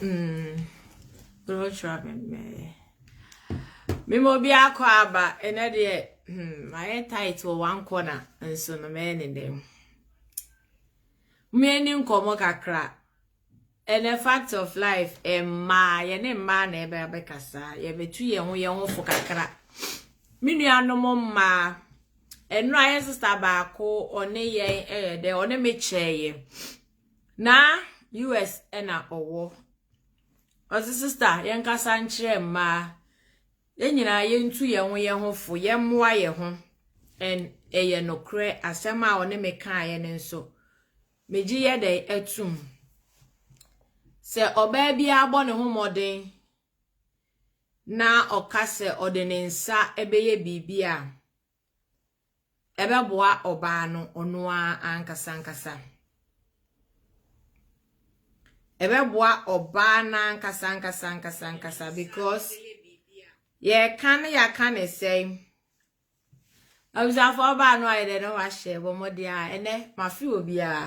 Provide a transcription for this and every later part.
Mm. Don't try me, me. Me mo bi akɔ aba ɛnɛ deɛ hmm mayɛ tight wɔ one corner nso no mɛyɛ ne dɛm mmeni nkɔmɔ kakra ɛnɛ fact of life mmaa yɛne mmaa na ɛbɛ abɛkasa yɛbɛtu yɛn ho yɛn ho fo kakra me nuanom mmaa ɛnura yɛ sista baako ɔne yɛn ɛyɛ dɛ ɔne me kyɛɛ yɛ. Na US na ɔwɔ. Ɔdze sister yɛnkasa nkyerɛ mmaa. Yɛn nyinaa yɛntu yɛn ho yɛn ho fo, yɛmmoa yɛn ho. And ɛyɛ nokorɛ asɛm a ɔne me kaeɛ no nso. Megye yɛ dɛn atum. Sɛ ɔbaa biara bɔ ne ho mmɔden na ɔka sɛ ɔde ne nsa bɛyɛ biribi a, ɛbɛboa ɔbaa no ɔno ara ankasa ankasa. Ɛbɛboa ɔbaa no ankasa ankasa ankasa ankasa because yɛka no yɛaka ne sɛe. Abusuafoɔ ɔbaa no ayɛ dɛ ne ho ahyɛ bɔ mmɔden a ɛnɛ mafe obiara.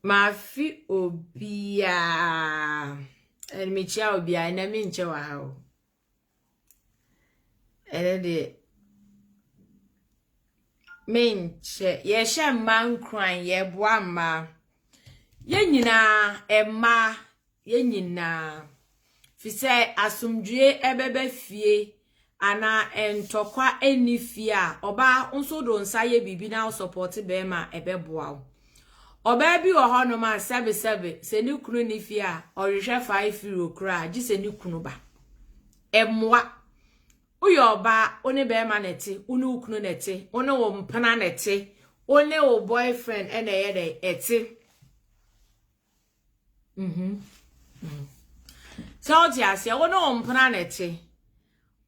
Mafe obiara. Ɛnɛ mekyia obiara ɛnɛ menkyɛ wɔ ha o. Ɛnɛ deɛ menkyɛ yɛhyɛ mmaa nkuran yɛboa mmaa yɛn nyinaa mmaa yɛn nyinaa fi sɛ asomdwie ɛbɛba fie anaa ntɔkwa ɛnni fie a ɔbaa nso de wo nsa yɛ biribi na wo sɔpɔte barima a ɛbɛboa wo. Ɔbaa bi wɔ hɔnom a, sɛbesɛbe, sɛ ne kunu nni fie a, ɔhwehwɛ five euro koraa, gye sɛ ne kunu ba. Ɛmmoa. Woyɛ ɔbaa, wo ne bɛrima na ɛte, wo ne wo kunu na ɛte, wo ne wo mpena na ɛte, wo ne wo boyfriend na ɛyɛ dɛn ɛte. Mhm. Mm. Sɛ wote aseɛ wo ne wo mpena na ɛte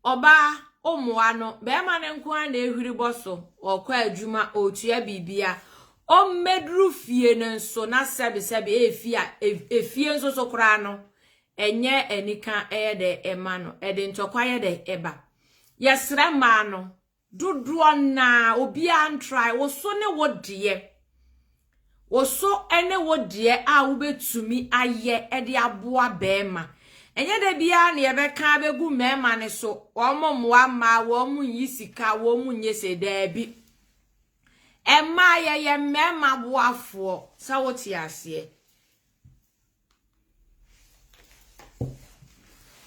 ɔbaa ɔmmoa no bɛrima no nko ara na ɛhwiri bɔ so ɔkɔ adwuma ɔtua biribia ɔmmɛduru fie no nso na sɛbesɛbe ɛfi a ɛfie nso so koraa no ɛnyɛ anika ɛyɛ dɛ ɛma no ɛde ntɔkwa yɛ dɛ ɛba yɛsrɛ mmaa no Dodoɔ no ara obiara ntrae, wo so ne wo deɛ. Wo so ne wo deɛ a wobɛtumi ayɛ de aboa barima. Ɛnyɛ da biara na yɛbɛka abɛgu mmarima no so, wɔn mmoa mmaa, wɔn nyi sika, wɔn nyɛ sei, daabi. Mmaa yɛyɛ mmarima boafoɔ, sɛ wote aseɛ.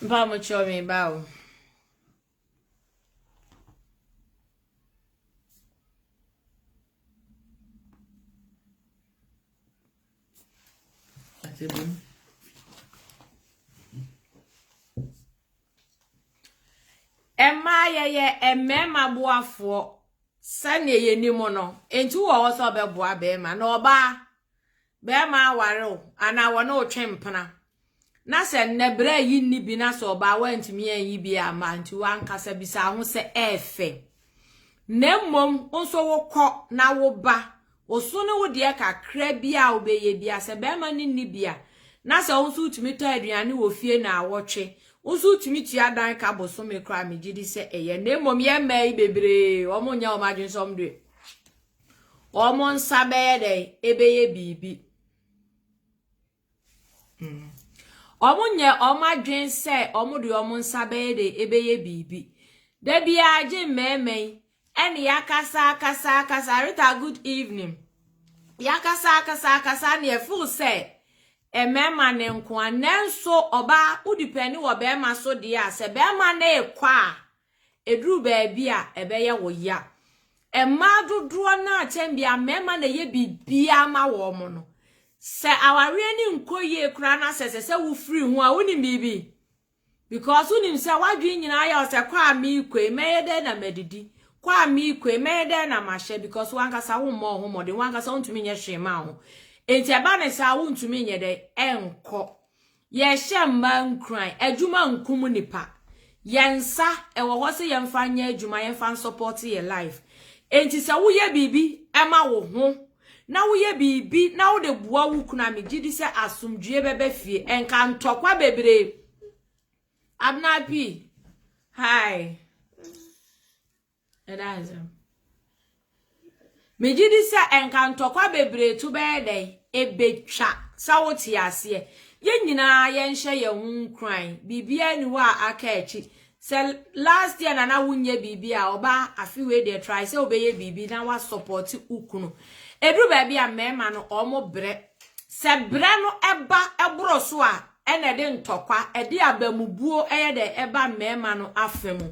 Mpa mo kyerɛ me ba o. Mmaa yɛyɛ mmarima boafoɔ sɛdeɛ yɛnim no nti wowɔ hɔ sɛ wobɛboa barima na ɔbaa Bɛɛma aware wo anaa wɔne wo twe mpena na sɛ nnɛ berɛ yi nni bi na sɛ ɔbaa woantumi anyi bi amma nti woankasa bisaa ho sɛ ɛɛfɛ na mmom nso wokɔ na woba oso ne wo deɛ kakra bi a wobɛyɛ bi a sɛ bɛɛma ne nni bi a na sɛ wo nso wotumi tɔ aduane wɔ fie na awɔtwe wo nso wotumi tua dan ka bosome koraa megye di sɛ ɛyɛ na mmom yɛ mmaa yi bebree wɔn nyɛ wɔn adwene sɛ wɔn deɛ Wɔn nsa bɛyɛ dɛn? Ɛbɛyɛ biribi. Mm. Wɔn nyɛ wɔn adwene sɛ wɔn de wɔn nsa bɛyɛ dɛn? Ɛbɛyɛ biribi. Da biara gye mmɛɛma yi ɛne yakasa akasa akasa Rita good evening. Yakasa akasa akasa ne ɛfo sɛ mmɛɛma ne nkoa nanso ɔbaa wodi pɛ ne wɔ bɛɛma so deɛ a sɛ bɛɛma ne kɔ a Ɛduru baabi a, ɛbɛyɛ wo ya. Mmaa dodoɔ no ara kyɛn biara, mmarima na ɛyɛ biribiara ma wɔn no. Sɛ awareɛ no nkɔ yie koraa na sɛ ɛsɛ sɛ wofiri ho a, wonim biribi? Because wonim sɛ w'adwene nyinaa yɛ wo sɛ, kɔ a merekɔ yi, mɛyɛ dɛn na madidi? Kɔ a merekɔ yi, mɛyɛ dɛn na mahyɛ? Because w'ankasa wommɔ wo ho mmɔden, w'ankasa wontumi nyɛ hwee mma wo ho. Enti ɛba no saa a, wontumi nyɛ dɛn? Ɛnkɔ. Yɛrehyɛ mmaa nkuran, adwuma nkum nnipa. Yɛn nsa, ɛwɔ hɔ sɛ yɛmfa nyɛ adwuma, yɛmfa nsɔpɔɔte yɛn life. Enti sɛ woyɛ biribi ma wo ho, na woyɛ biribi na wode boa wo kunu a, megye di sɛ asomdwoeɛ bɛba fie. Ɛnka ntɔkwa bebree. Abena P, hi. Ɛda ase. Megye di sɛ nka ntɔkwa bebree to bɛyɛ dɛn? Ebetwa sɛ wote aseɛ. Yɛn nyinaa yɛnhyɛ yɛn ho nkuran. Biribiara nni hɔ a aka akyi. Sɛ last year na na wonyɛ biribi a, ɔbaa afe wei deɛ try sɛ wobɛyɛ biribi na woasɔpɔte wo kunu. Ɛduru baabi a mmarima no wɔbrɛ. Sɛ brɛ no ba boro so a, ɛna ɛde ntɔkwa, ɛde abamubuo yɛ dɛn? Ɛba mmarima no afa mu.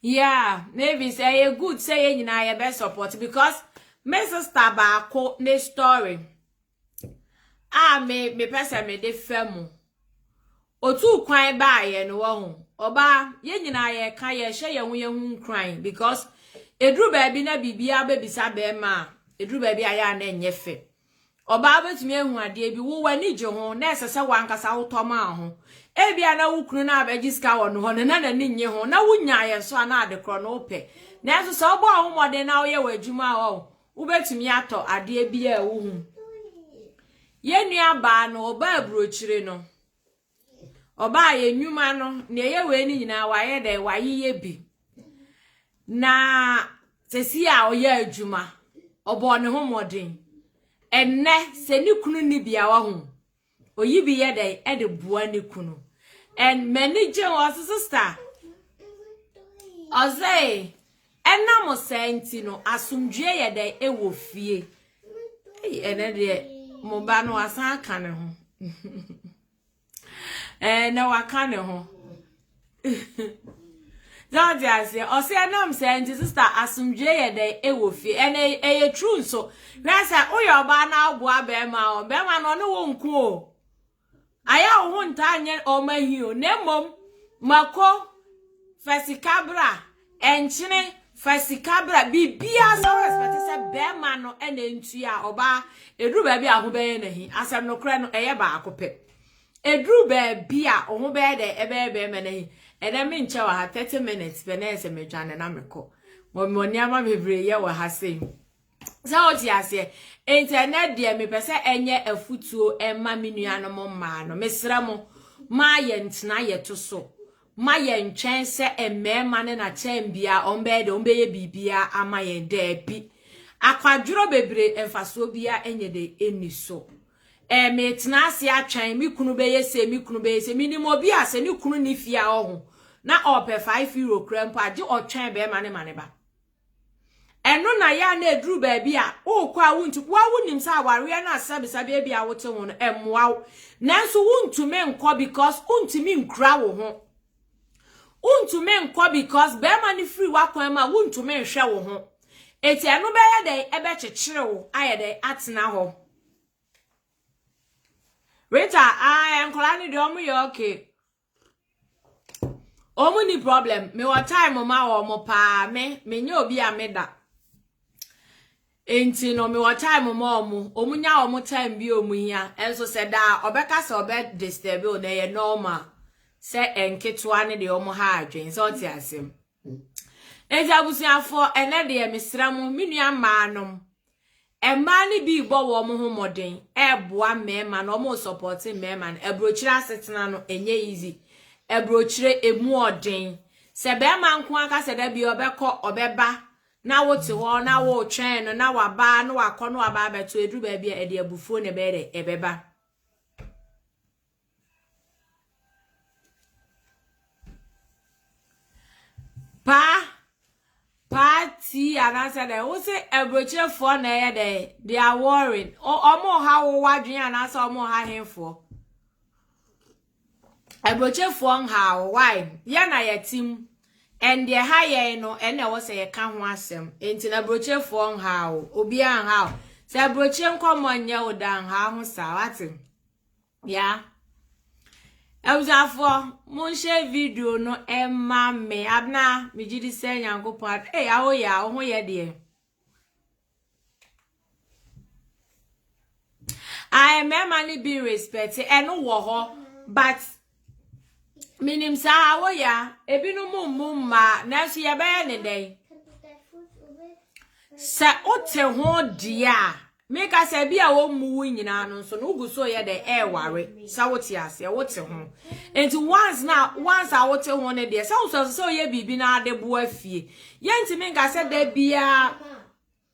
Yeah, Mavis, ɛyɛ eh, good sɛ yɛn nyinaa yɛbɛ support because me sister baako ne story a me mepɛ sɛ mede fa mu. Otu kwan baayɛ no wɔ ho. Ɔbaa, yɛn nyinaa yɛka yɛhyɛ yɛn ho yɛn ho nkuran because eduru baabi na biribiara bɛbisa bɛrima a eduru baabi a yɛ a na ɛnyɛ fɛ. Ɔbaa betumi ahu adeɛ bi, wo w'ani gye ho, na ɛsɛ sɛ w'ankasa wotɔ maa ho. Ebia na wo kunu no a bɛgye sika wɔ ne hɔ no, na n'ani nnye ho, na wunyaeɛ nso a, na adekorɔ no wopɛ. Nanso sɛ wobɔ wo ho mmɔden na woyɛ w'adwuma a, ɔɔ, wobɛtumi atɔ adeɛ biara a wohu. Yɛn nuabaa no, ɔbaa aburokyire no. Ɔbaa yɛ nnwuma no, nea ɛyɛ wei no nyinaa wayɛ dɛ, wayeyɛ bi. Na sɛsi a ɔyɛ adwuma, ɔbɔɔ ne ho mmɔden. Ɛnnɛ, sɛ ne kunu nni biawa ho, oyi bi yɛ dɛ ɛde boa ne kunu. And m'ani gye ho, ɔse sista, ɔse Ɛnam saa nti no, asomdwoeɛ yɛ dɛn wɔ fie? Ei, ɛnɛ deɛ, mo ba no wasan aka ne ho. Ɛɛ, na waka ne ho. Sɛ ɔte aseɛ, ɔsɛ ɛnam saa nti, sista, asomdwoeɛ yɛ dɛn wɔ fie? Ɛnɛ ɛyɛ true nso. Hwɛ sɛ woyɛ ɔbaa na woboa bɛrima a, bɛrima no ɔne wo nko o. Ayɛ wo ho ntaa nyɛ wɔn ahi o, na mmom mako, fa sika bra, nkyene, fa sika bra, biribiara sɛ respect sɛ bɛrima no na ɛntua a, ɔbaa, ɛduru baabi a ho bɛyɛ n'ahi. Asɛm nokorɛ no, ɛyɛ baako pɛ. Ɛduru baabi a ho bɛyɛ dɛ ɛbɛyɛ bɛrima n'ahi. Ɛnɛ menkyɛ wɔ ha 30 minutes pɛ na ɛsɛ medwane na mekɔ. Mɔ nneɛma bebree yɛ wɔ ha sei. Sɛ wote aseɛ? Enti ɛnɛ deɛ mepɛ sɛ ɛnyɛ afutuo ɛma me nuanom mmaa no. Mesrɛ mo, ma yɛntena yɛto so. Ma yɛntwɛn sɛ mmarima no na kyɛn bia ɔmbɛyɛ dɛ ɔmbɛyɛ biribia ama yɛn. Daabi. Akwadworɔ bebree mfasoɔ bia ɛnyɛ dɛ ɛnni so. Ɛɛ metena ase atwɛn me kunu bɛyɛ sei, me kunu bɛyɛ sei. Menim obi a sɛ ne kunu nni fie a ɔho na ɔpɛ 5 euro koraa mpo a, gye ɔtwɛn bɛrima no ma ne ba. ɛno na yɛ a na ɛduru baabi a worekɔ a wontu woa wonim sɛ awareɛ no asɛbisa baabi a wote ho no ɛmmoa wo nanso wontumi nkɔ because wontumi nkura wo ho wontumi nkɔ because bɛrima no firi w'akwan mu a wontumi nhwɛ wo ho eti ɛno bɛyɛ dɛn ɛbɛkyekyere wo ayɛ dɛn atena hɔ Rita, ah, nkwadaa no deɛ wɔn yɛ okay. Wɔn ni problem. Mewɔ time ma wɔn paa. Me, menyɛ obi a meda. Nti no, mewɔ time ma wɔn. Wɔn nya wɔn time bi a wɔn hia. Nso sɛ daa ɔbɛka sɛ ɔbɛ disturb o na ɛyɛ normal. Sɛ nketewa ne deɛ wɔn ha adwene. Sɛ ɔte asɛm. Enti abusuafoɔ, ɛnnɛ deɛ mesrɛ mo, me nua mmaa nom, mmaa no bi rebɔ wɔn ho mmɔden, ɛreboa mmarima no, wɔn resɔpɔte mmarima no, aburokyire asetena no, ɛnyɛ easy, aburokyire emu ɔden, sɛ barima nko aka sɛ da bi ɔbɛkɔ, ɔbɛba, na wote hɔ, na wotwɛn no, na waba, na wakɔ, na waba abɛto, ɛduru baabi a ɛde abufuo na ɛbɛyɛ dɛ, ɛbɛba. Paa paa tii anaasɛ dɛ wosɛ aburokyerefoɔ na ɛyɛ dɛ they are worrying ɔmo ha wo wadwene anaasɛ ɔmo ha henfoɔ aburokyerefoɔ nha wo why yɛ na yɛte mu and deɛ ha yɛn no ɛna ɛwɔ sɛ yɛka ho asɛm nti na aburokyerefoɔ nha wo obiara nha wo sɛ aburokyire nkɔmmɔ nyɛ wo da nha ho saa wate. ya abusuafoɔ monhyɛ video no ɛma me abena megye di sɛ nyankopɔn ee eh, awo ya wo ho yɛ deɛ a mmarima no bi respect ɛno wɔ hɔ but Menim saa, woyɛ a, ebinom mmu mmaa, nanso yɛbɛyɛ ne dɛn? Sɛ wote ho deɛ a, meka sɛ bi a wɔmmu wo nyinaa no nso no wogu so yɛ dɛ ɛreware sɛ wote aseɛ wote ho nti once na once a wote ho no deɛ sɛ wosɔ sɛ woyɛ biribi na adeboa fie yɛntumi nka sɛ da biara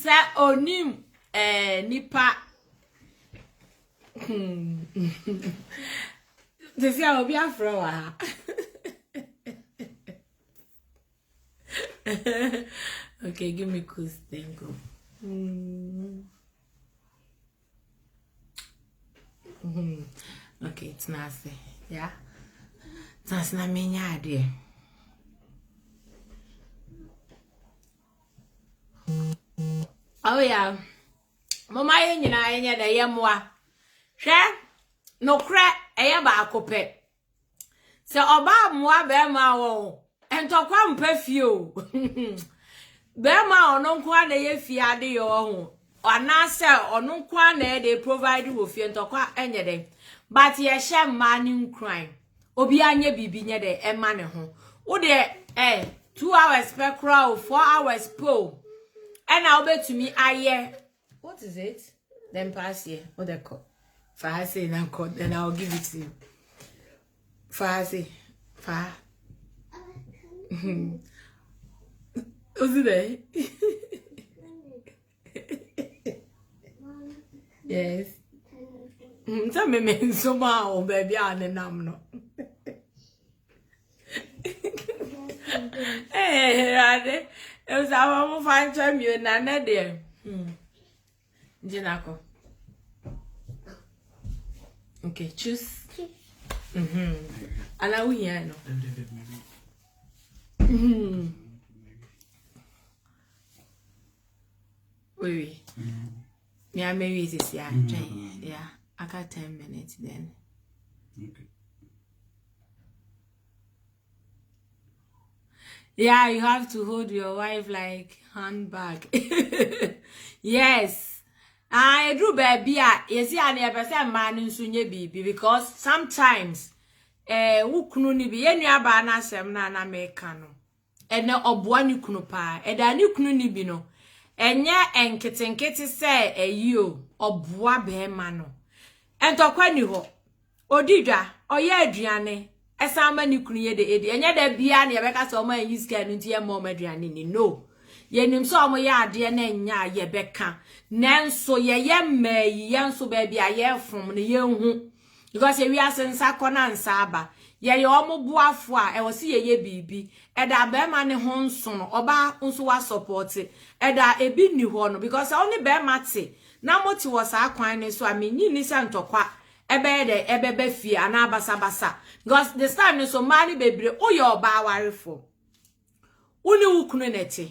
Sɛ onim eh, nipa sisi a obi afrɛ wɔ ha okay give me cool thank you mm. mm. okay tena ase ya tena ase na menya adeɛ Oh yeah. Mama yɛ nyinaa yɛnyɛ dɛ yɛ mmoa. Hwɛ nokorɛ ɛyɛ baako pɛ. Sɛ ɔbaa mmoa bɛrima a wɔn ntɔkwa mpɛ fie o. Bɛrima a ɔno nko ara na ɛyɛ fie ade yɛ ɔho. Anaasɛ ɔno nko ara na ɛde provide wɔ fie ntɔkwa ɛnyɛ dɛ. But yɛhyɛ mmaa ne nkuran. obiara nyɛ biribi nyɛ dɛ ɛma ne ho wo deɛ ɛ eh, two hours pɛ koraa o four hours pɛ o ɛna wobɛtumi ayɛ what is it then pass here wo dɛ kɔ fa ha sei na kɔ then i will give it to you fa ha sei fa ha osi dɛ yes sɛ meme nsom a wɔ baabi a ne nam no awurade ɛsɛ ama mo fa nkyɛ mmio na nɛ deɛ gyina kɔ okay choose ana wohia no Wait, yeah, maybe it is yeah, mm-hmm. yeah. I got ten minutes then. Okay. Yeah, you have to hold your wife like handbag. yes. I ah, do baby. Ah, you see, I never said man in Sunye baby because sometimes eh, who kunu ni bi, yenu abana sem na na mekano. Ɛnna ɔboa ne kunu paa. Ɛda a ne kunu nni bi no, ɛnyɛ nketenkete sɛ ayi o, ɔboa barima no. Ntɔkwa nni hɔ. Ɔdi dwa, ɔyɛ aduane, ɛsan ma ne kunu yɛ dɛ ɛdi. Ɛnyɛ da biara na yɛbɛka sɛ wɔn anyi sika no nti yɛmma wɔn aduane ni. No. Yɛnim sɛ wɔyɛ adeɛ na ɛnyɛ a yɛbɛka. Nanso yɛyɛ mmaa yi, yɛn nso baabi a yɛrefom no, yɛnhu. Because ewiase nsa kɔ na nsa aba. Yɛyɛ wɔn boafo a, ɛwɔ se yɛyɛ biribi. Ɛda a barima ne ho nso no, ɔbaa nso wasɔpɔte. Ɛda a ebi nni hɔ no, because sɛ wo ne barima te na mote wɔ saa kwan no so a, minnye nni sɛ ntɔkwa bɛyɛ dɛn ɛbɛba fie anaa basabasa. Because this time no nso, mmaa no bebree, woyɛ ɔbaa awarefoɔ, wo ne wo kunu na ɛte.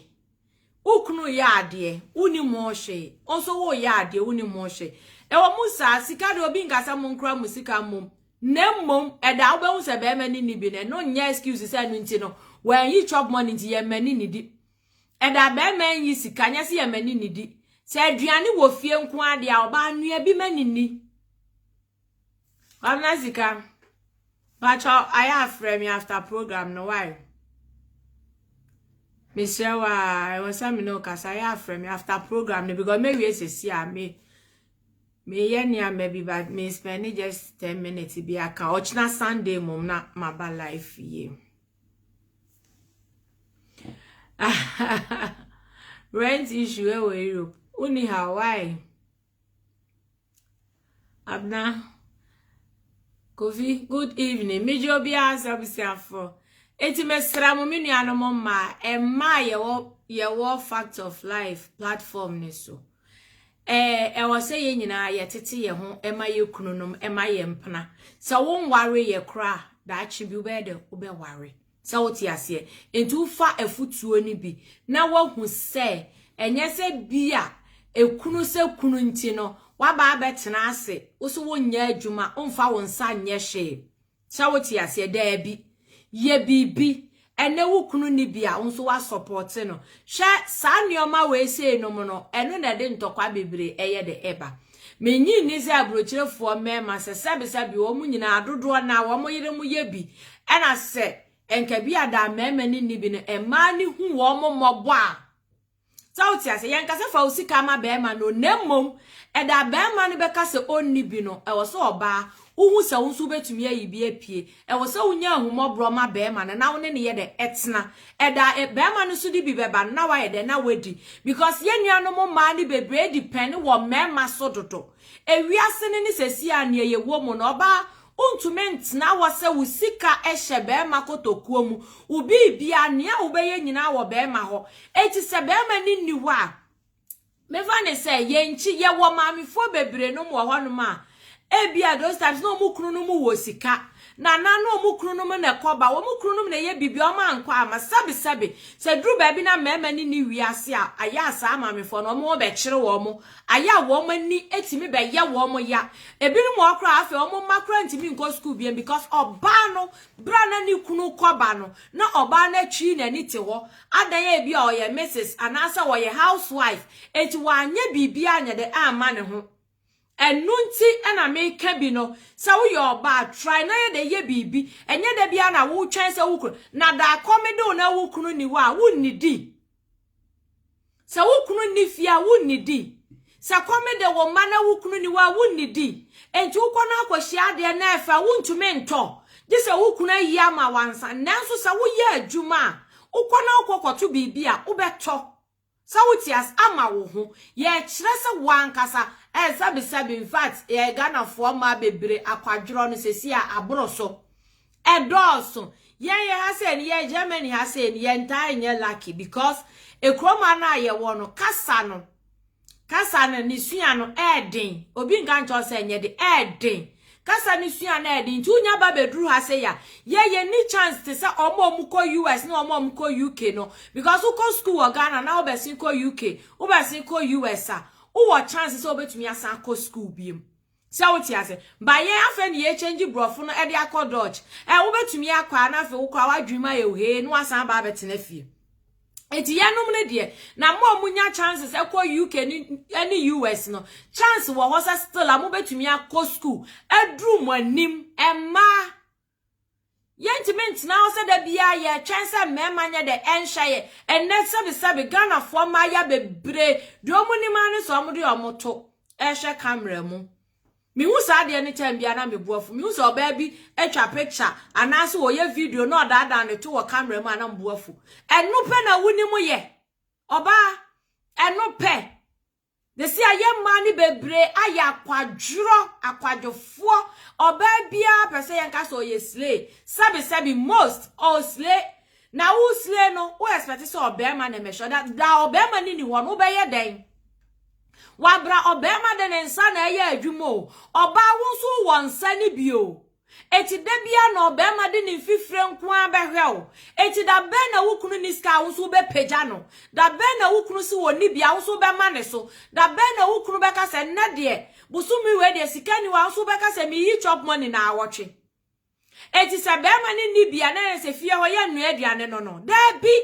Wo kunu reyɛ adeɛ, wonnim ho hwee. Wo nso woreyɛ adeɛ, wonnim ho hwee. Ɛwɔ mu saa, sika deɛ obi nka sɛ monkora mo sika mmom, na mmom ɛda a wobɛhu sɛ barima no nni bi no, ɛno nyɛ excuse sɛ ɛno nti no, wanyi chop money nti yɛn mma ani nnidi. Ɛda a barima renyi sika nyɛ sɛ yɛn mma ani nnidi. Sɛ aduane wɔ fie nko ara deɛ a, ɔbaa nua bi ma ani nni. Governor Sika, bakyɛ ayɛ afrɛ me after program no why? Mesrɛ wa, ɛwɔ sɛ me ne ɔkasa ayɛ afrɛ me after program no because me wie sisi a me me yɛ nneɛma bi but me spend just 10 minutes bi aka ɔkyena Sunday mom na maba life yie. Rent issue ɛwɔ Europe. Uni how why? Abena, Kofi, good evening. Megye obiara sɛ abusuafoɔ. Eti mesra mo me nuanom mmaa, mmaa a yɛwɔ yɛwɔ fact of life platform ne so. Ɛɛ ɛwɔ sɛ yɛn nyinaa yɛtete yɛn ho ɛma yɛ kununom ɛma yɛ mpena. Sɛ wo nware yɛ koraa daakye bi wobɛyɛ dɛ wobɛware. Sɛ wote aseɛ? Enti wofa afutuo no bi na woahu sɛ ɛnyɛ sɛ bi a ɛkunu sɛ kunu nti no woaba abɛtena ase, wo so wonyɛ adwuma, womfa wo nsa nyɛ hwee. Sɛ wote aseɛ? Daabi. Yɛ biribi. Ɛnnɛ wo kunu nni bi a, wo nso woasɔpɔte no. Hwɛ saa nnoɔma wei sei nom no, ɛno na ɛde ntɔkwa bebree ɛyɛ dɛ ɛba. Minnye nni sɛ aburokyerefoɔ mmarima sɛ sɛbesɛbe wɔn nyinaa dodoɔ no ara wɔn yerenom yɛ bi na sɛ nka bi a daa mmarima ani nni bi no mmaa no hu wɔn mmɔbɔ a sɛ wote ase yɛnka sɛ fa wo sika ma barima no na mmom ɛda a barima no bɛka sɛ ɔnni bi no ɛwɔ sɛ ɔbaa wohu sɛ wo nso wobɛtumi ayi bi apue. Ɛwɔ sɛ wonya ahummɔborɔ ma barima no na wo ne no yɛ dɛ ɛtena. Ɛda eh, barima no so de bi bɛba no na wayɛ dɛ na wadi. Because yɛn nuanom mmaa no bebree depend wɔ mmarima so dodo. Ewiase no ne seesei a nea yɛwɔ mu no, ɔbaa wontumi ntena hɔ sɛ wo sika hyɛ barima kotokuo mu, wo biribiara, nea wobɛyɛ nyinaa wɔ barima hɔ. Enti sɛ barima no nni hɔ a, Mefa ne sɛ yɛn nkyi yɛwɔ maamefoɔ bebree nom wɔ hɔ nom a ebia those times na wɔn kunu nom wɔ sika na na na wɔn kunu nom na ɛkɔ ba wɔn kunu nom na ɛyɛ biribi wɔn ankɔ ama sɛbi sɛbi sɛ duru baabi na mmarima no ni wiase a ayɛ a saa maamefoɔ no wɔn wɔ bɛkyere wɔn ayɛ a wɔn ani etimi bɛyɛ wɔn ya ebinom wɔ hɔ koraa afei wɔn mma koraa ntumi nkɔ sukuu biem because ɔbaa no bere a na ne kunu kɔ ba no na ɔbaa no atwi n'ani te hɔ Adɛn a ebia ɔyɛ Misis anaasɛ ɔyɛ Hauswaif, enti wanyɛ biribiara anyɛ dɛ amma ne ho. Ɛno nti na meka bi no, sɛ woyɛ ɔbaa, try na yɛ dɛ yɛ biribi. Ɛnyɛ da biara na wotwɛn sɛ wo kunu, na da kɔm de wo na wo kunu nni hɔ a, wunnidi. Sɛ wo kunu nni fie a, wunnidi. Sɛ kɔm de wo mma na wo kunu nni hɔ a, wunnidi. Enti wokɔ na akɔhyia adeɛ na ɛfɛ a, wuntumi ntɔ, gye sɛ wo kunu ayi ama wo ansa. Nanso sɛ woyɛ adwuma a, wokɔ na wokɔkɔto biribi a, wobɛtɔ. Sɛ wote ase, ama wo ho. Yɛkyerɛ sɛ wo ankasa, eh, sɛbesɛbe. Infact, eh, Ghanafoɔ mmaa bebree akwadworɔ no seesei a aboro so. Ɛdɔɔso. Yɛn yɛ ha sɛ ni yɛ Germany ha sɛ ni yɛ ntaa nyɛ lucky because ekuroma no a yɛwɔ no kasa no kasa no ne sua no ɛɛden obi nka nkyɛw sɛ nyɛ de ɛɛden kasa ne sua no ɛɛden nti wonya ba bɛduru ha sɛ ya yɛ yɛ ni chance te sɛ ɔmo a ɔmo kɔ US ne ɔmo a ɔmo kɔ UK no because wokɔ school wɔ Ghana na wobɛsen kɔ UK wobɛsen kɔ US a wowɔ chance sɛ wobɛtumi asan akɔ school biem Sɛ wo te ase? Ba yɛn afei na yɛ change brɔfo no ɛde akɔ Dutch ɛ wo bɛ tumi akɔ a na afei wo koraa w'adwene mu ayɛ ohee na w'asan aba abɛ tena fie Enti yɛ nom no deɛ na mo a mo nya chances ɛkɔ UK ne ɛne US no chance wɔ hɔ sɛ still a mo bɛ tumi akɔ school aduru mo anim ɛmmaa Yɛntumi ntena hɔ sɛ da biara yɛtwɛn sɛ mmarima nyɛ dɛ ɛnhwɛ yɛ. Ɛnnɛ sɛbesɛbe Ghanafoɔ mmayewa bebree deɛ wɔn nim ara ne sɛ wɔde wɔn to ɛhwɛ camera mu. Mehu saa adeɛ no time biara na mebo afu. Mehu sɛ ɔbaa bi atwa picture anaasɛ ɔyɛ video na ɔdaadaa ne to wɔ camera mu a na mebo afu. Ɛno pɛ na wonim yɛ. Ɔbaa, ɛno pɛ. Sɛsi a yɛn mmaa no bebree ayɛ akwadworɔ, akwadwofoɔ. Ɔbaa biara pɛ sɛ yɛnka sɛ ɔyɛ slay. Sɛbi sɛbi most ɔɔ slay. Na wo slay no wo expect sɛ ɔbarima na ɛmɛhwɛ. Da da ɔbarima no ni hɔ no wobɛyɛ dɛn? Wabra ɔbarima de ne nsa na ɛyɛ adwuma o. Ɔbaa wo nso wowɔ nsa no bi o. Enti da biara na ɔbarima de ne mfifire nko ara bɛhwɛ wo. Enti da bɛn na wo kunu nni sika a wo nso wobɛpagya no? Da bɛn na wo kunu se ɔnni bi a wo nso wobɛma ne so? Da bɛn na wo kunu bɛka sɛ, Nnɛ deɛ, bosome wei deɛ, sika nni hɔ a wo nso wobɛka sɛ, Meyi chop money nnawɔtwe? Enti sɛ barima no nni bi a na ɛyɛ sɛ fie hɔ yɛnnoa aduane no no? Dabi!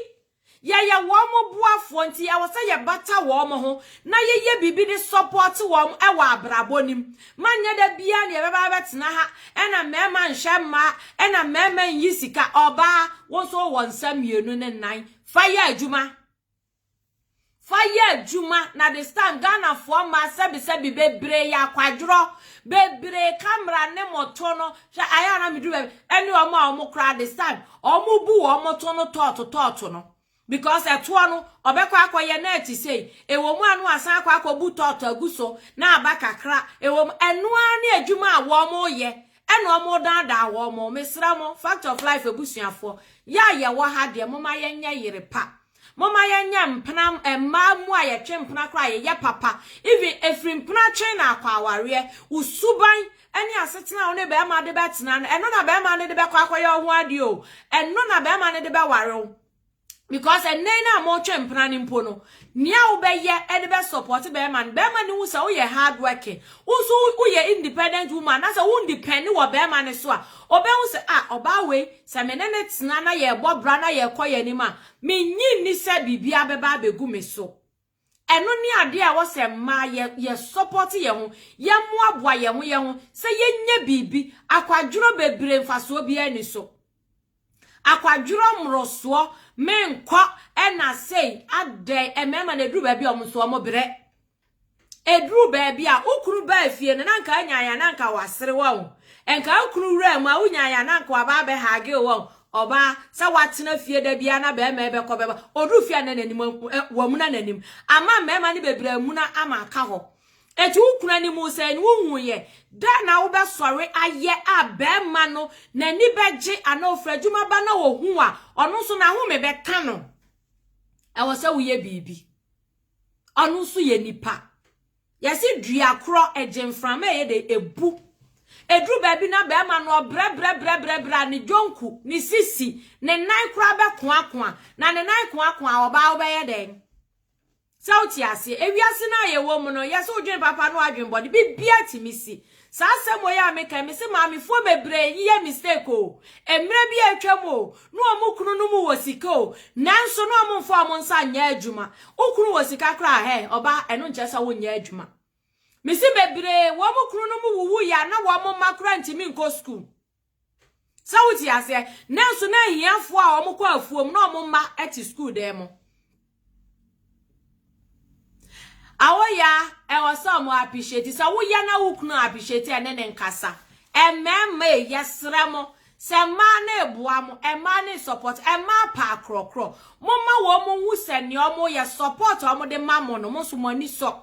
Yɛyɛ wɔn boafoɔ nti ɛwɔ sɛ yɛbata wɔn ho na yɛyɛ biribi de sɔpɔɔte wɔn wɔ abrabɔ no mu ma nyɛ da biara na yɛbɛba abɛtena ha na mmarima nhwɛ mmaa na mmarima nyi sika. Ɔbaa, wo nso wowɔ nsa mmienu ne nan, fa yɛ adwuma. Fa yɛ adwuma na de stan Ghanafoɔ mmaa sɛbesɛbe bebree yɛ akwadworɔ, bebree ka mmara ne mo to no, hwɛ ayɛ a na meduru baabi ɛne wɔn a wɔn koraa de stan wɔn bu wɔn to no tɔɔto tɔɔto no because ɛtoɔ no ɔbɛkɔ akɔyɛ na ɛte sei, ɛwɔ mu a na wasan akɔ akɔbu tɔɔto agu so na aba kakra ɛwɔ mu, ɛno ara ne adwuma a wɔreyɛ ɛna wɔredaadaa wɔn, mesrɛ mo Fact of Life abusuafoɔ yɛ a yɛwɔ ha deɛ momma yɛnyɛ yere pa. Momma yɛnyɛ mpena mmaa mu a yɛtwe mpena koraa a yɛyɛ papa even ɛfiri mpena twe na akɔ awareɛ wo suban ne asetena a wo ne barima de bɛtena no ɛno na barima no de bɛkɔ akɔyɛ wo ho adeɛ o ɛno na barima no de bɛware wo because ɛnɛ no a motwe mpena no mpo no nea wobɛyɛ ɛde bɛ support barima no barima no hu sɛ woyɛ hard working wo nso woyɛ independent woman na sɛ wo depend wɔ barima no so a ɔbɛhu sɛ a ɔbaa wei Sɛ me ne no tena na yɛbɔ bra na yɛkɔ yɛn anim a, minnye nni sɛ biribiara bɛba abegu me so. Ɛno ne ade a ɛwɔ sɛ mmaa yɛ, yɛsɔpɔte yɛn ho, yɛmmoaboa yɛn ho yɛn ho sɛ yɛnyɛ biribi. Akwadworɔ bebree mfasoɔ biara nni so. Akwadworɔ mmorosoɔ, menkɔ, ɛna sei, adɛn, mmarima no ɛduru baabi a wɔn nso wɔbrɛ. Ɛduruu baabi a, wo kunu baa fie no, na nka anya yɛ na nka wasere wɔ wo. Nka wo kunu wuraa mu a, wonya yɛ na nka waba abɛhage wɔ wo. Ɔbaa, sɛ watena fie da biara na bɛrima bɛkɔ bɛba, ɔduru fie a na n'anim ahu, eh, wamuna n'anim. Ama mmarima no bebree amuna ama aka hɔ. Eti wo kunu anim sɛe no, wohu yɛ. Da na wobɛsɔre ayɛ a bɛrima no n'ani bɛgye anaa ofiri adwuma ba na ohu a, ɔno nso n'ahome bɛka no. Ɛwɔ sɛ woyɛ biribi. Ɔno nso yɛ nipa. Yɛse dua korɔ, ɛgye mframa a ɛyɛ dɛ, ɛbu. Ɛduru baabi na bɛrima no ɔbrɛbrɛbrɛbrɛbrɛ a ne dwonku, ne sisi, ne nan koraa bɛkoakoa. Na ne nan koakoa a, ɔbaa wobɛyɛ dɛn? Sɛ wote aseɛ. Ewiase no a yɛwɔ mu no, yɛse wodwene papa ne w'adwene bɔne, biribiara tumi si. Saa asɛm wei a meka yi, mese maamefoɔ bebree yeyɛ mistake o. Mmerɛ bi a atwa mu o, ne wɔn kunu no mu wɔ sika o, nanso ne wɔn mfa wɔn nsa nyɛ adwuma. Wo kunu wɔ sika koraa a, hɛn, ɔbaa, ɛno nkyerɛ sɛ wonyɛ adwuma. Mese bebree, wɔn kunu no mu wuwuiɛ a, na wɔn mma koraa ntumi nkɔ sukuu. Sɛ wote aseɛ? Nanso na ahiafoɔ a wɔkɔ afuom na wɔn mma te sukuu dan mu. Awoya ɛwɔ sɛ wɔn appreciate sɛ woya na wo kunu appreciate ɛne ne nkasa. Mmarima yi yɛsrɛ mo sɛ mmaa no eboa mo, mmaa no support, mmaa pa akorɔkorɔ. Momma wɔn nhu sɛ nea wɔyɛ support a wɔde ma mo no mo nso mo ani sɔ.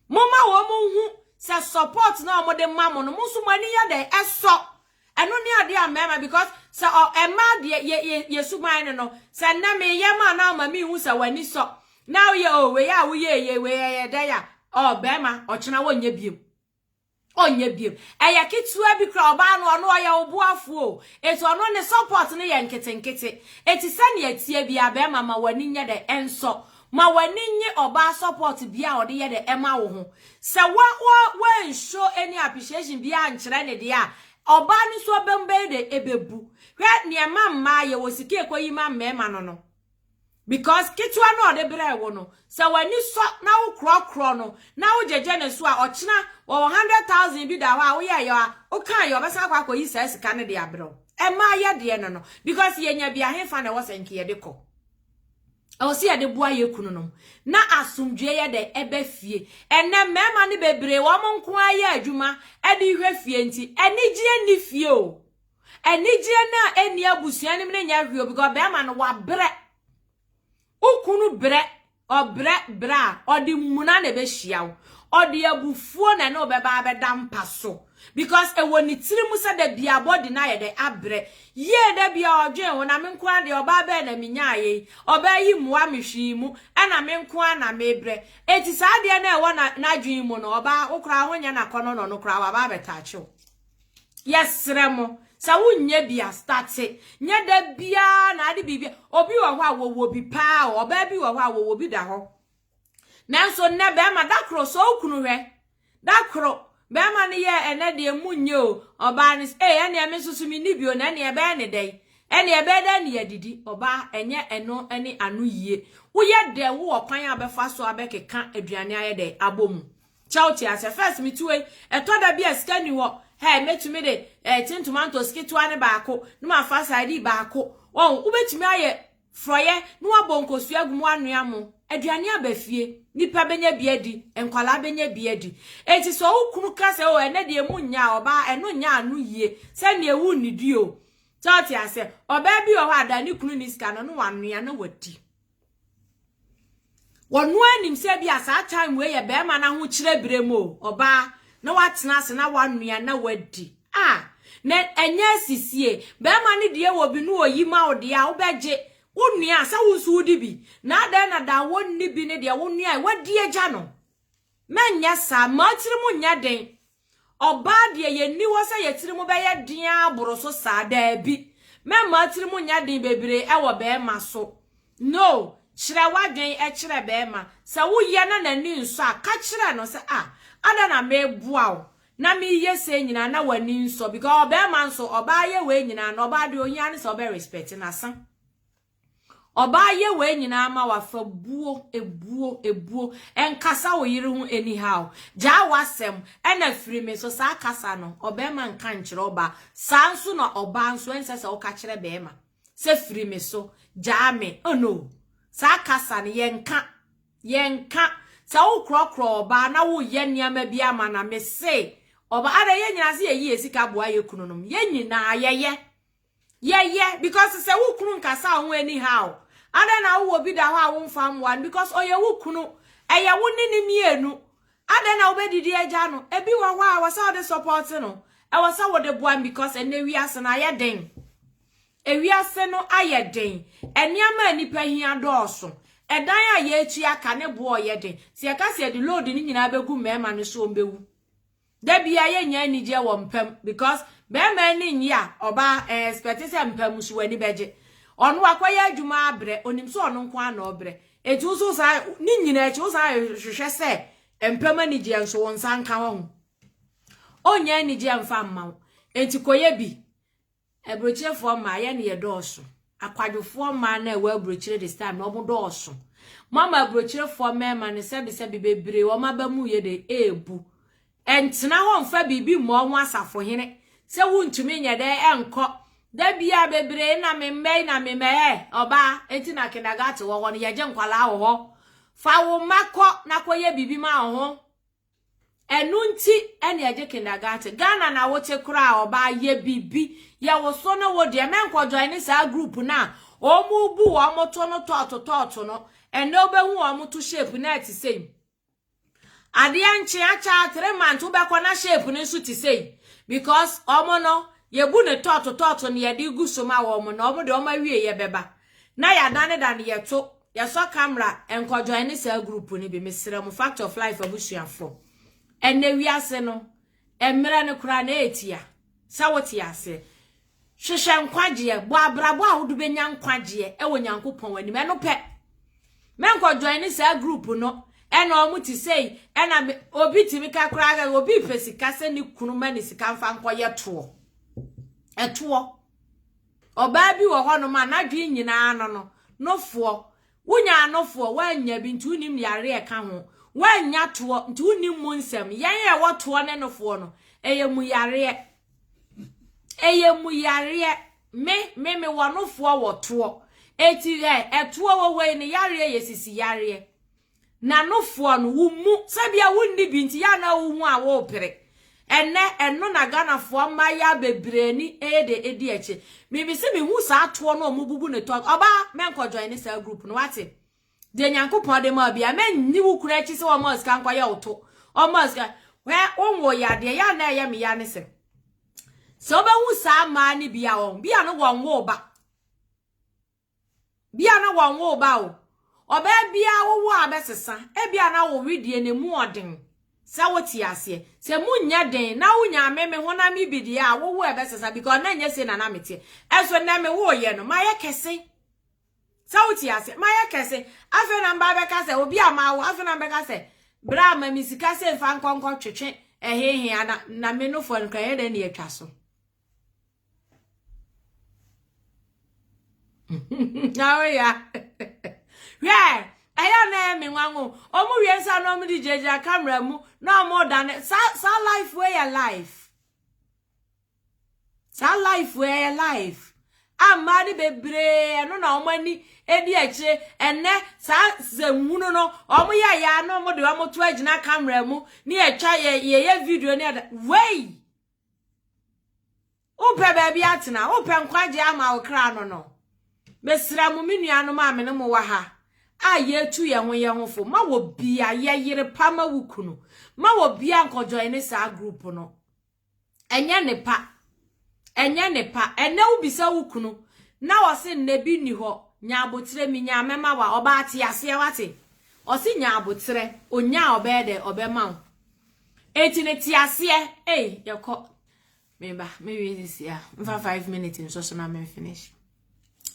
Momma wɔn nhu sɛ support na wɔn de ma mo no, mo nso mo ani yɛ dɛ ɛsɔ. Ɛno ne adeɛ a mmarima because sɛ ɔ mmaa deɛ yɛ yɛ yɛ suban no no sɛ nnɛ meyɛ ma na ama mi hu sɛ w'ani sɔ na woyɛ o wei a woyɛ yɛ wei ɛyɛ dɛ ya ɔ barima ɔkyena wɔnyɛ biem. ɔnyɛ biom ɛyɛ ketewa bi kora ɔbaa no ɔno ɔyɛ wo boafo o eti ɔno ne support no yɛ nketenkete eti sɛnea ɛteɛ bia bɛrima ma w'ani nyɛ dɛ ɛnsɔ ma w'ani nye ɔbaa support bia ɔde yɛ dɛ ɛma wo ho sɛ wa wa wa nsho any appreciation bia nkyerɛ ne deɛ a ɔbaa no nso ɔbɛm bɛyɛ dɛ ɛbɛbu hwɛ nea ɛma mmaa yɛwɔ sika ekoyi ma mmarima no no. Because ketewa no a ɔde brɛɛ wo no, sɛ w'ani sɔ na wokorɔkorɔ no na wogyegye ne so a, ɔkyena wɔwɔ hundred thousand bi da hɔ a woyɛɛ yɛ a wokaa yɛ ɔbɛsan akɔ akɔyi saa sika no de abrɛ wo. Ɛmma yɛ deɛ no no. Because yɛnya bi a hefa na ɛwɔ sɛ nka yɛde kɔ? Ɛwɔ sɛ yɛde boa yɛ kununom na asomdwoeɛ yɛ dɛ ɛbɛ fie. Ɛnɛ mmarima no bebree wɔn nko ara yɛ adwuma de hwɛ fie nti anigyeɛ nni fie o. Anigyeɛ no a ɛnni abusua no mu no nyɛ hwee o because bɛrima no wabrɛ. Wo kunu brɛ, ɔbrɛ brɛ a, ɔde mmuna na ɛbɛhyia wo. Ɔde abufuo na ɛne wo bɛba abɛda mpa so because ɛwɔ ne tiri mu sɛ da biara body no ayɛ dɛ, abrɛ. Yie da biara ɔdwen wo, na me nko ara deɛ ɔbaa bɛn na menyaeɛ yi, ɔbaa yi mmoa me hwee mu, ɛna me nko ara na mebrɛ. Enti saa adeɛ no a ɛwɔ n'adwene mu no, ɔbaa wo koraa wonyɛ no akɔnnɔ na ɔno koraa waba abɛtouch wo. yɛsrɛ mo sɛ wonyɛ bi astate nyɛ da biara na ade biribi obi wɔ hɔ a wɔwɔ bi paa ɔbaa bi wɔ hɔ a wɔwɔ bi da hɔ nanso nnɛ bɛrima da koro sɛ okunu hwɛ da koro bɛrima no yɛ ɛnɛ deɛ mu nyɛ o ɔbaa no ee ɛnea me nso so me ni bi o na ɛnea ɛbɛyɛ ne dɛn ɛnea ɛbɛyɛ dɛn ne yɛdidi ɔbaa ɛnyɛ ɛno ne ano yie woyɛ dɛn wowɔ kwan a bɛfa so a bɛkeka aduane ayɛ dɛn abɔ mu Kyɛ wo te aseɛ first me tuoe ɛtɔ da bi a sika nni hɔ hey mɛtumi de eh tin tomatoes ketewa no baako na ma fa sadii baako oh wo bɛtumi ayɛ frɔyɛ na wabɔ nkosua agu mu wanoa mo aduane aba fie nipa bɛnya bi adi nkwadaa bɛnya bi adi enti sɛ wo kunu ka sɛ oh ɛnɛ deɛ mu nyaa ɔbaa ɛno nyɛ ano yie sɛdeɛ wo nnidi o kyɛ wo te aseɛ ɔbaa bi wɔ hɔ a da ne kunu ni sika no na wanoa na wadi Wɔno ara nim sɛ ebia saa time wei yɛ barima no ahokyerɛ berɛ mu o, ɔbaa na watena ase na wanoa na wadi. Ah, na ɛnyɛ asisie. Barima no deɛ wɔ bi no ɔyi ma wo deɛ a wobɛgye. Wonua a sɛ wo nso wodi bi. Na adɛn na da a wonni bi no deɛ wonoa a wadi agya no. Mɛnyɛ saa, mma wo tirim nyɛ den. Ɔbaa deɛ, yɛnni hɔ sɛ yɛn tirim bɛyɛ den ara boro so saa, daabi. Mɛmma wo tirim nyɛ den bebree wɔ barima so. No, kyerɛ w'adwene kyerɛ barima. Sɛ woyɛ na n'ani nsɔ a, ka kyerɛ no sɛ, Ah, adɛn na mereboa wo na mereyɛ sei nyinaa na w'ani nsɔ? Because ɔbarima nso, ɔbaa yɛ wei nyinaa no, ɔbaa deɛ ohia ne sɛ ɔbɛ respect no, asa. Ɔbaa yɛ wei nyinaa ma wafa buo ebuo ebuo nkasa wo yere ho anyhow gyaa wasɛm ɛna firi me so saa kasa no ɔbɛɛma nka nkyerɛ ɔbaa saa nso na ɔbaa nso ɛnsɛ sɛ woka kyerɛ bɛɛma sɛ firi me so gyaa me oh no saa kasa no yɛnka yɛnka sɛ wo korɔkorɔ ɔbaa na wo yɛ nneɛma bi ama na me se ɔbaa ara yɛ nyinaa se yɛyi yɛ sika boa yɛ kunu nom yɛ nyinaa yɛyɛ Yeah, yeah, because sɛ wo kunu nkasa ho anyhow. Adɛn na wowɔ bi da hɔ a womfa mmoa no because ɔyɛ wo kunu. Ɛyɛ wo ne ne mmienu. Adɛn na wobɛdidi agya no? Ebi wɔ hɔ a ɛwɔ sɛ wode support no. Ɛwɔ sɛ wode boa no because ɛnɛ wiase no ayɛ den. Ewiase no ayɛ den. Nneɛma a nnipa hia dɔɔso. Ɛdan a yɛretua ka ne boɔ yɛ den. Sɛ yɛka sɛ yɛde load no nyinaa bɛgu mmarima no so wɔn bɛwu. Da biaa yɛ nnya anigyeɛ wɔ mpa mu because bɛɛma ani nnye a ɔbaa ɛ expect sɛ mpa mu nso w'ani bɛgye. Ɔno wakɔ yɛ adwuma abrɛ, onim sɛ ɔno nko ara na ɔbrɛ. Enti wo nso wo san, ne nyinaa akyi wo san hwehwɛ sɛ mpa mu anigyeɛ nso wo nsa nka hɔ ho. Ɔnnya anigyeɛ mfa mma wo. Enti kɔ yɛ bi. Aburokyerefoɔ mmaa, yɛn ne yɛdɔɔso. Akwadwofoɔ mmaa no a ɛwɔ aburokyire this time no, wɔn dɔɔso. Moama aburokyerefoɔ mmarima no sɛbesɛbe bebree, wɔn aba mu yɛ dɛ ɛrebu. Ɛntena hɔ mfa biribi mmɔ wɔn asafohene sɛ wontumi nyɛ dɛ ɛnkɔ. Da biara bebree na me mma yi na me mma ɛ, ɔbaa, enti na kindergarten wɔ hɔ no, yɛgye nkwadaa wɔ hɔ. Fa wo mma kɔ na kɔyɛ biribi ma wɔn ho. Ɛno nti ɛne ɛgye kindergarten. Ghana na wote koraa ɔbaa yɛ biribi yɛ wo so ne wo deɛ mɛnkɔ join ne saa group no a wɔn bu wɔn to no tɔɔto tɔɔto no ɛnɛ wobɛhu wɔn to shape na ɛte sɛi adeɛ nkye akyɛ three months wobɛkɔ na shape no nso te sɛi because wɔn no yɛbu ne tɔɔto tɔɔto ne yɛde gu so ma wɔn na wɔn de wɔn awie yɛ bɛba Na yɛadanedane yɛto yɛsɔ camera nkɔ joine saa group no bi mesrɛ mo fact of life abusuafoɔ ɛnɛ wiase no mmerɛ no koraa na ɛtia sɛ wote aseɛ hwehwɛ nkwagyeɛ bɔ abrabɔ a wode bɛnya nkwagyeɛ ɛwɔ nyankopɔn anim ɛno pɛ mɛnkɔ joine saa group no ɛna ɔmo te sei ɛna obi tumi ka koraa obi pɛ sika sɛ ne kunu ma ne sika mfa nkɔyɛ toɔ ɛtoɔ Ɔbaa bi wɔ hɔnom a n'adwene nyinaa no no, nofoɔ. Wonyaa nofoɔ, woannya bi, nti wonnim yareɛ a ɛka ho. Woannya toɔ, nti wonnim mu nsɛm. Yɛn a yɛwɔ toɔ ne nofoɔ no, ɛyɛ mu yareɛ. Ɛyɛ mu yareɛ. Me, me, mewɔ nofoɔ wɔ toɔ. Enti ɛ, ɛtoɔ wɔ hɔ yi, ne yareɛ yɛ sisi yareɛ. Na no foɔ no wo mmu sɛ bia wo nni bi nti yɛ na wo hu a wo pere ɛnɛ ɛno na Ghana foɔ mmayaa bebree ani ɛyɛ dɛ ɛdi akyi me me se me hu saa toɔ no ɔmo bubu ne tɔg ɔbaa mɛ nkɔ join ne saa group no wate deɛ Nyankopɔn de maa bia mɛ nyi wo kura akyi sɛ ɔmo asika nkɔ yɛ wo to ɔmo asika hwɛ wo nwo yɛ adeɛ yɛ na ɛyɛ me ya ne sɛ sɛ ɔbɛhu saa maa ne bia ɔn bia no wɔn wo ba Bia na wɔnwoo ba o. Ɔbaa biara wowo a bɛsesa. Ebia na wo wedeɛ no emu ɔden. Sɛ wote aseɛ. Sɛ emu nyɛ den na wonya me me honam yi bi deɛ a, wowo a ɛbɛsesa because na nyɛ sei na na meteɛ. Ɛnso nnɛ mewoeɛ no, mayɛ kɛse. Sɛ wote aseɛ. Mayɛ kɛse. Afei na mba bɛka sɛ obi a mawo, afei na mbɛka sɛ bra ma me sika sɛ mfa nkɔ nkɔtwetwe ɛhehe a na na me nofoɔ no kora ɛyɛ dɛn na yɛatwa so. oh yeah hwɛ ɛyɛ na ɛyɛ me nwanwo ɔmo wie nsa na ɔmo de gyinagyina kamera mu na ɔmo da ne saa saa life wei yɛ life saa life wei yɛ life a mmaa no bebree ɛno na ɔmo ani edi akyire ɛnɛ saa sɛnhunu no ɔmo yɛ ya na ɔmo de ɔmo to agyina kamera mu ne yɛtwa yɛ yɛyɛ video ne ɛda wei Wopɛ baabi atena? Wopɛ nkwagye ama wo kra no no? Mesrɛ mo, me nuanom a me ne mo wɔ ha a yɛtu yɛn ho yɛn ho fo, ma wɔ bia yɛ yere pa ma wo kunu. Ma wɔ bia nkɔjoin ne saa group no. Ɛnyɛ ne pa. Ɛnyɛ ne pa. Ɛnɛ wobisa wo kunu na ɔse nnɛ bi nni hɔ. Nya aboterɛ, menyaa mɛma wa. Ɔbaa te aseɛ wate. Ɔse nya aboterɛ, onyaa ɔbɛyɛ dɛ ɔbɛma wo. Eti ne te aseɛ ei yɛkɔ meba mewie sisi a mfa five minutes nso so na me finish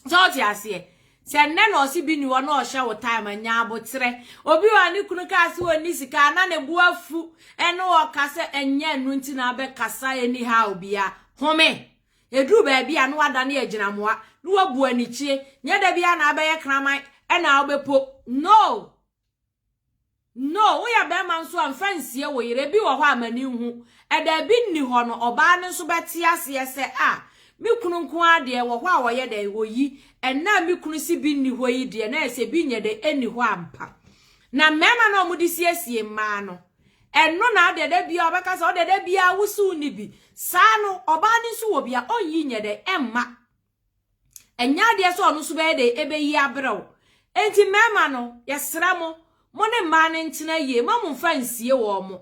sɛ ɔte aseɛ sɛ nnɛ na ɔse bi ni hɔ na ɔhyɛ wo time anya aboterɛ obi wɔ ne kunu kaa se ɔnni sika na ne bo afu ɛne ɔka sɛ ɛnyɛ ɛno nti na abɛkasa anyhow bia home ɛduru baabi a na wadane agyinamoa na wabu anikyie nyɛ da bia na abɛyɛ kraman ɛna wobɛpo no No, woyɛ barima nso a mfa nsie wo yere, ebi wɔ hɔ a m'ani nhu. Ɛda ebi nni hɔ no, ɔbaa no nso bɛte aseɛ sɛ, ah, me kunu nko ara deɛ ɛwɔ hɔ a ɔyɛ dɛn, oyi, ɛnnɛ a me kunu se bi nni hɔ yi deɛ na ayɛ sɛ bi nyɛ dɛn, enni hɔ ampa. Na mmarima no a wɔde siesie mmaa no, ɛno na adeɛ da biara ɔbɛka sɛ, ɔdeɛ da biara wo se wonni bi, saa no, ɔbaa no nso wɔ bi a, ɔnyi nyɛ dɛn, ɛmma. ɛnyɛ adeɛ sɛ ɔno nso bɛyɛ dɛ ɛbɛyi abrɛ wo enti mmarima no yɛsrɛ mo mo ne mmaa no ntena yie ma mo mfa nsie wɔn mo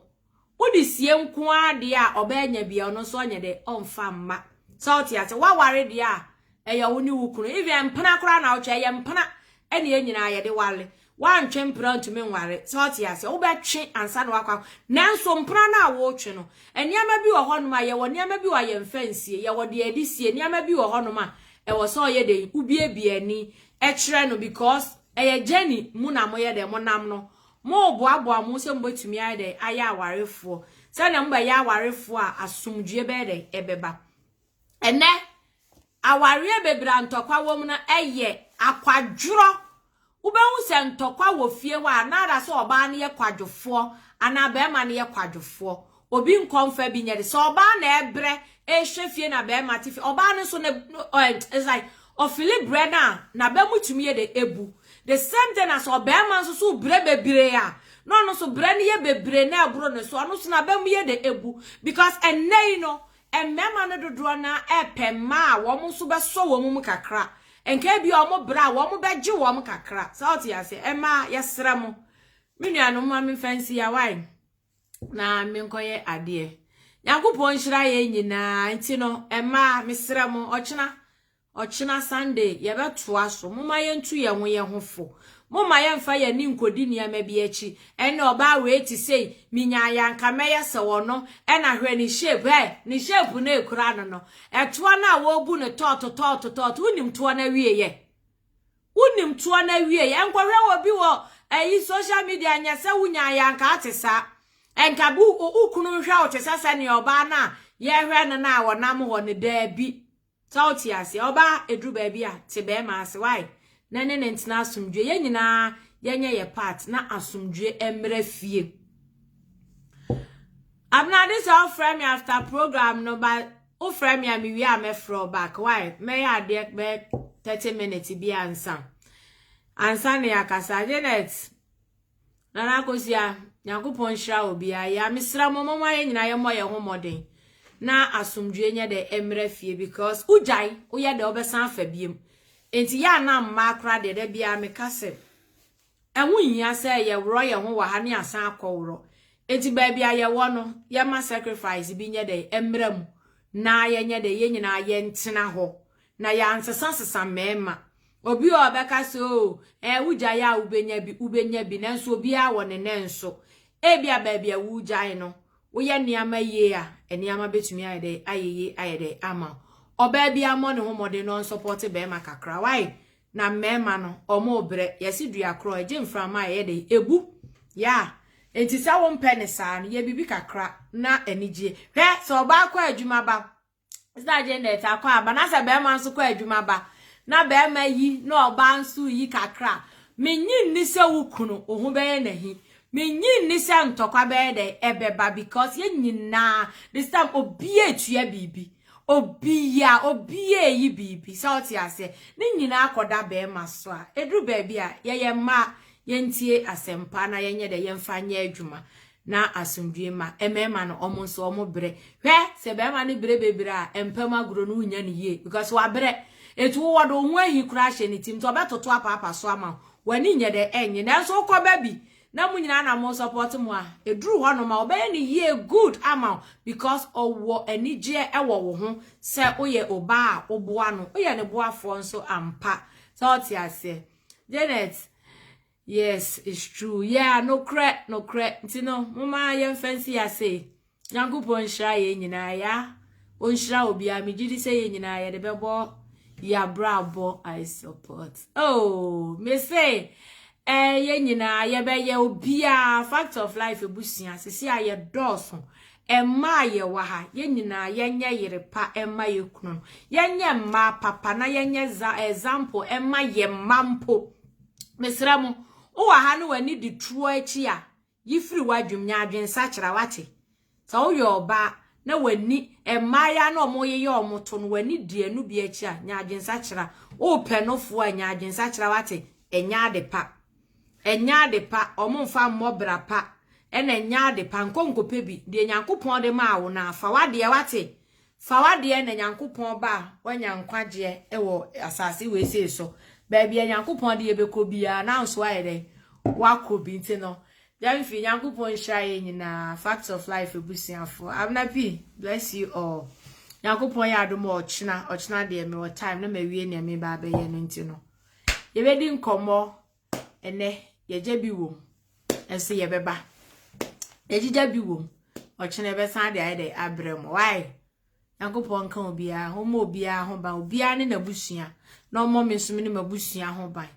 wode sie nko ara deɛ a ɔbaa nya bia ɔno nso ɔnyɛ dɛ ɔmfa mma sɛ wote ase woaware deɛ a ɛyɛ wo ne wo kunu even mpena koraa na wotwa ɛyɛ mpena ɛne yɛn nyinaa yɛde wale Woantwe mpena ntumi nware. Sɛ wote aseɛ, wobɛtwe ansa na woakɔ akɔ. Nanso mpena no a woretwe no, nneɛma bi wɔ hɔnom a, yɛwɔ nneɛma bi wɔ a yɛmfa nsie. Yɛwɔ deɛ yɛde sie. Nneɛma bi wɔ hɔnom a, ɛwɔ sɛ ɔyɛ dɛn? Wobiebie ani kyerɛ no because ɛyɛ journey mu na moyɛ dɛn? Monam no. Moreboaboa mo ho sɛ mobɛtumi ayɛ dɛn? Ayɛ awarefoɔ. Sɛdeɛ mobɛyɛ awarefoɔ a, asomdwoeɛ bɛyɛ dɛn? Ɛbɛba. Ɛnnɛ, awareɛ bebree a ntɔkwa wɔ mu no yɛ akwadworɔ. Wobɛhu sɛ ntɔkwa wɔ fie hɔ a, na ara sɛ ɔbaa no yɛ kwadwofoɔ anaa barima no yɛ kwadwofoɔ. Obi nkɔ mfa bi nyɛ de. Sɛ ɔbaa na ɛbrɛ ɛrehwɛ fie na barima te fie, ɔbaa no nso ne, it's like ɔfili brɛ no a, n'aba mu tumi yɛ de ebu. The same thing na sɛ ɔbarima nso so brɛ bebree a, na ɔno nso brɛ no yɛ bebree na ɛboro ne so, ɔno nso n'aba mu yɛ de ebu. Because ɛnnɛ yi no, Mmarima no dodoɔ no ara repɛ mmaa a wɔn nso bɛsɔ wɔn mu kakra. Nka ebi a wɔn bra a wɔbɛgye wɔn kakra. Sɛ wote aseɛ, mmaa yɛsrɛ mo. Me nuanom ma memfa nsi ya wae na menkɔyɛ adeɛ. Nyankopɔn nhyira yɛn nyinaa nti no, mmaa mesrɛ mo ɔkyena Ɔkyena Sunday, yɛbɛtoa so. Momma yɛntu yɛn ho yɛn ho fo. Momma yɛmfa yɛn ani nkɔdi nneɛma bi akyi. Ɛnna ɔbaa wei te sei, menyaeɛ a anka mɛyɛ sɛ ɔno. Ɛnna hwɛ ne shape, ɛ! Ne shape no a ɛkura no no, ɛtoa no a wɔrebu no tɔɔto tɔɔto tɔɔto, wonim toɔ no awieeɛ? Wonim toɔ no awieeɛ? Ɛnkɔhwɛ obi wɔ ayi social media ɛnyɛ sɛ wonyaeɛ a anka wote saa. Ɛnka wo kunu nhwɛ wo te sɛ sɛdeɛ ɔbaa no a yɛrehwɛ no no a ɔnam hɔ no, daabi. Sɛ wo te aseɛ ɔbaa ɛduru baabi a te bɛɛma ase wai na ne ne ntena asomdwoe yɛn nyinaa yɛ nyɛ yɛ part na asomdwoe ɛmmerɛ fie Abnade sɛ wo frɛ me after program no ba wo frɛ me a me wie a mɛ frɛ back wai mɛ yɛ adeɛ bɛ 30 minutes bi ansa ansa ne akasa Janet Nana Kosia, Nyankopɔn nhyira obiara. Ya mesra mo mɔmɔ ayɛ nyina yɛ mɔ yɛ ho mɔden. Na asomdwie nyɛ dɛ emra fie because ujai woyɛ dɛ obesan afa biem. Enti ya na mma akora de da bia me ka se ɛho nhia sɛ yɛ worɔ yɛ ho wɔ ha ne asan akɔ worɔ. Enti baabi a yɛ wɔ no yɛ ma sacrifice bi nyɛ dɛ emra mu na yɛ nyɛ dɛ yɛ nyina yɛ ntena hɔ Na yɛansesasesa mmarima. Obi wɔ hɔ a ɔbɛka sɛ, Oo, ɛɛ, wogyae a wubenya bi, wubenya bi, nanso obiara wɔ ne nnɛ nso. Ebia baabi a woregyae no, woyɛ nneɛma yie a, nneɛma bɛtumi ayɛ dɛ, ayɛ yie ayɛ dɛ ama wo. Ɔbaa bi ammɔ ne ho mmɔden na ɔnsɔpɔɔte barima kakra. Wai? Na mmarima no, wɔrebrɛ. Yɛse dua korɔ, ɛgye mframa a ɛyɛ dɛ, ɛbu. Yaa. Enti sɛ wompɛ no saa no, yɛ biribi kakra na anigyeɛ. Hwɛ, sɛ ɔbaa kɔ adwuma ba, sɛ Janet akɔ aba na sɛ bɛrima nso kɔ adwuma ba na bɛrima yi na ɔbaa nso yi kakra a, menye nni sɛ wo kunu wo ho bɛyɛ n'ahi. Menye nni sɛ ntɔkwa bɛyɛ dɛ ɛbɛba because yɛn nyinaa this time obi atua biribi. Obi ya, obi ayi biribi. Sɛ ɔte aseɛ, ne nyinaa akɔda bɛrima so a, ɛduru baabi a yɛyɛ mmaa yɛntie asɛmpa na yɛnyɛ dɛ yɛmfa nyɛ adwuma. Na asomdwie mma mmarima no wɔn nso wɔn brɛ. Hwɛ sɛ barima no brɛ bebree a mpa mu agorɔ no wonya no yie because wabrɛ. Nti wo wɔde wo ho ahi koraa ahyɛ ne tirim nti ɔbɛtoto apaapa so ama wo. W'ani nyɛ dɛ ɛnnye nanso wokɔ ba bi na mo nyinaa na mo support mo a ɛduru hɔ nom a ɔbɛyɛ no yie good ama wo because ɔwɔ anigyeɛ ɛwɔ wo ho sɛ woyɛ obaa a woboa no woyɛ ne boafoɔ nso ampa sɛ wote aseɛ. Janet Yes it's true yeah nokorɛ nokorɛ nti no moma yɛnfa nsi ase Nyankopɔn nhyira yɛn nyinaa ya ɔnhyira obiara megye di sɛ yɛn nyinaa yɛde bɛbɔ yɛabrabɔ I support oh me se eh, yɛn nyinaa yɛbɛyɛ obiara fact of life ebusua sisi a yɛdɔɔso ɛma a yɛwɔ ha yɛn nyinaa yɛnyɛ yere pa ɛma yɛ kunu yɛnyɛ mmaa papa na yɛnyɛ example ɛma yɛ mma mpo Mesrɛ mo, wo wɔ ha ne w'ani di turo akyi a, yi firi w'adwem, nya adwensakyera, wate? Sɛ woyɛ ɔbaa na w'ani, mmaayaa na wɔyeyɛ wɔn to no, w'ani di ɛno bi akyi a, nya adwensakyera. Wopɛ nofoɔ a, nya adwensakyera, wate? Ɛnyɛ ade pa. Ɛnyɛ ade pa. Wɔn mfa mmɔ bra pa. Ɛna ɛnyɛ ade pa. Nkɔ nkɔpɛ bi. Deɛ Nyankopɔn de maa wo no a, fa w'adeɛ, wate? Fa w'adeɛ na Nyankopɔn ba a wanya nkwagyeɛ wɔ asase wesee so, baabi a Nyankopɔn de yɛbɛkɔ biara no nso ayɛ dɛn? Wakɔ bi. Nti no, Gyamfi, Nyankopɔn nhyira yɛn nyinaa, Facts of Life abusuafoɔ. Abena P, bless you all. Nyankopɔn yɛ adom a ɔkyena, ɔkyena deɛ mewɔ time na mawie nea meba abɛyɛ no nti no, yɛbɛdi nkɔmmɔ ɛnɛ yɛgya bi wom nso yɛbɛba yɛgyegya bi wom ɔkyena ɛbɛsan de ayɛ dɛ abrɛ mu why nyankopɔn nka obiara ho ma obiara ho ban obiara ne n'abusua na ɔmmɔ me nso me ne m'abusua ho ban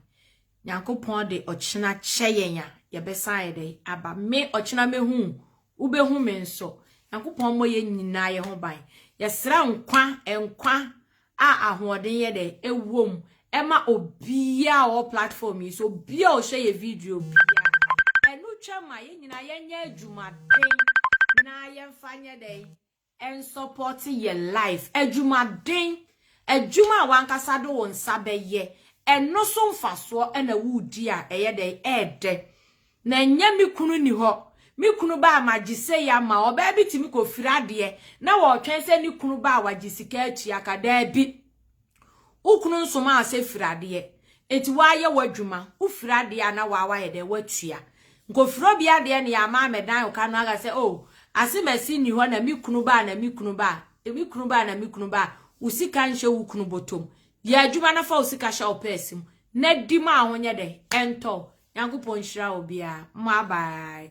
nyankopɔn de ɔkyena kyɛ yɛn a yɛbɛsan ayɛ dɛ aba me ɔkyena mehu wobɛhu me nso nyankopɔn mmɔ yɛn nyinaa yɛ ho ban yɛsrɛ nkwa nkwa a ahoɔden yɛ dɛ ɛwɔ mu ɛma obiaa a ɔwɔ platform yi so obiaa a ɔhwɛ yɛ video biaa ɛno twa ma yɛn nyinaa yɛnyɛ adwumaden na yɛmfa nyɛ dɛn ɛnsɔpɔte yɛ life adwumaden adwuma a wankasa de wo nsa bɛyɛ ɛno so mfasoɔ ɛna wodi a ɛyɛ dɛn ɛɛdɛ Na ɛnyɛ me kunu nni hɔ. Me kunu ba a magye sei ama wo. Ɔbaa bi tumi kɔfiri adeɛ na ɔretwɛn sɛ ne kunu ba a wagye sika atua ka. Daabi. Wo kunu nsomaa wo sɛ firi adeɛ. Enti woayɛ w'adwuma. Wofiri adeɛ a na wo ara woayɛ dɛn? Woatua. Nkɔfiri obi adeɛ na yɛama ammɛdan wo ka no aka sɛ, oh, asemasi nni hɔ na me kunu ba a na me kunu ba a, me kunu ba a na me kunu ba a. Wo sika nhyɛ wo kunu bɔtɔ mu. Yɛ adwuma na fa wo sika hyɛ wo pɛɛse mu na di ma ahonyɛ dɛn? Ɛntɔ. Nyankopɔn nhyira obiara. Mma bye.